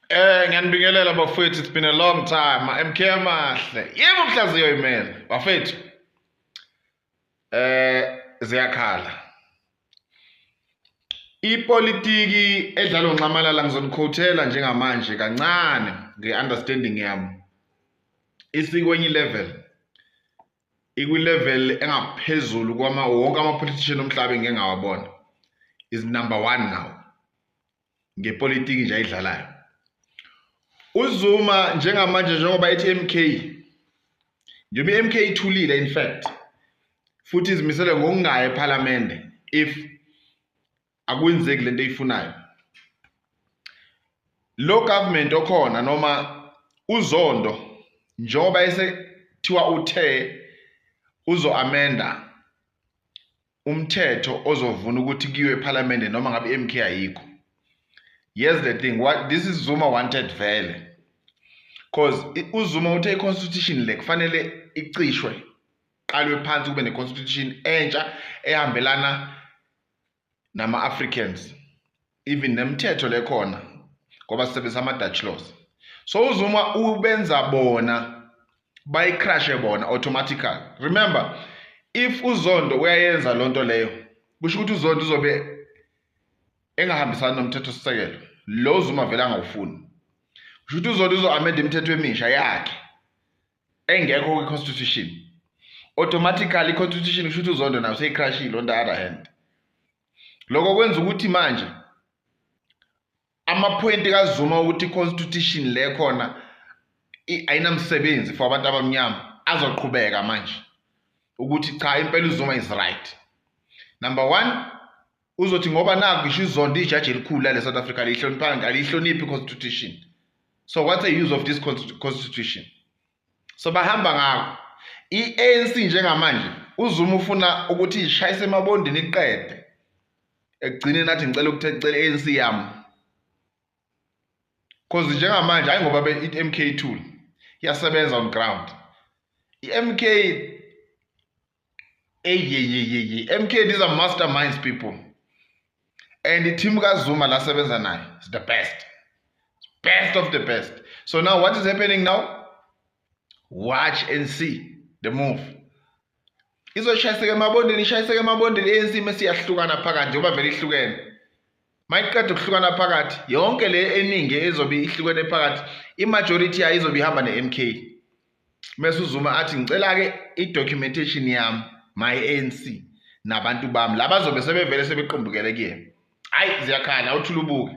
Eh ngiyanibingelela bafethu it's been a long time MK amahle yebo mhlaziyo imela bafethu eh ziyakhala ipolitiki edlalo nxamalala ngizonikhotela njengamanje kancane ngeunderstanding yami isikwenye level ikwilevel engaphezulu kwama wonke ama-politician omhlaba engike ngawabona is number one now ngepolitiki nje ayidlalayo uzuma njengamanje njengoba ethi mk njengoba i-mk ithulile in fact futhi izimisele ngokungayi ephalamende if akwenzeki lento eyifunayo lo government okhona noma uzondo njengoba esethiwa uthe uzo amenda umthetho ozovuna ukuthi kuyiwe ephalamende noma ngabe i-MK ayikho here's the thing what this is Zuma wanted vele cause uZuma uthe i-constitution le kufanele icishwe qalwe phansi kube ne-constitution entsha ehambelana nama-africans even nemithetho lekhona ngoba sisebenzisa ama-dutch laws so uzuma ubenza bona bayicrashe bona automatically remember if uzondo uyayenza loo nto leyo kusho ukuthi uzondo uzobe engahambisani nomthetho sisekelo lo zuma vele angawufuni kusho ukuthi uzondo uzo-amenda imithetho emisha yakhe engekho kwi constitution automatically constitution kusho ukuthi uzondo nayo seyicrashile on the other hand lokho kwenza ukuthi manje amaphoyinti kazuma ukuthi i-constitution le khona ayinamsebenzi for abantu abamnyama azoqhubeka manje ukuthi cha impela uzuma is right number one uzothi ngoba naku ngisho izondo ijaji elikhulu lale south africa aliyihloniphanga aliyihloniphi i-constitution so what's a use of this constitution so bahamba ngako i-anc njengamanje uzuma ufuna ukuthi ishayise emabondini iqede ekugcine nathi ngicela ukuthi ecela i-anc yami cause njengamanje hayi ngoba i-mk tool iyasebenza on ground i-mk eyeyeyeye MK these are masterminds people and team kaZuma la sebenza naye is the best best of the best so now what is happening now watch and see the move izoshayiseka emabondeni ishayiseka emabondeni ANC mesiyahlukana phakathi njengoba vele ihlukene mayiqeda ukuhlukana phakathi yonke le eningi ezobe ihlukene phakathi imajority yayo izobe ihamba ne-mk mese uzuma athi ngicela-ke i-documentation yami my anc nabantu bami laba zobe sebevele sebequmbukele kuyena hhayi ziyakhala uthula ubuke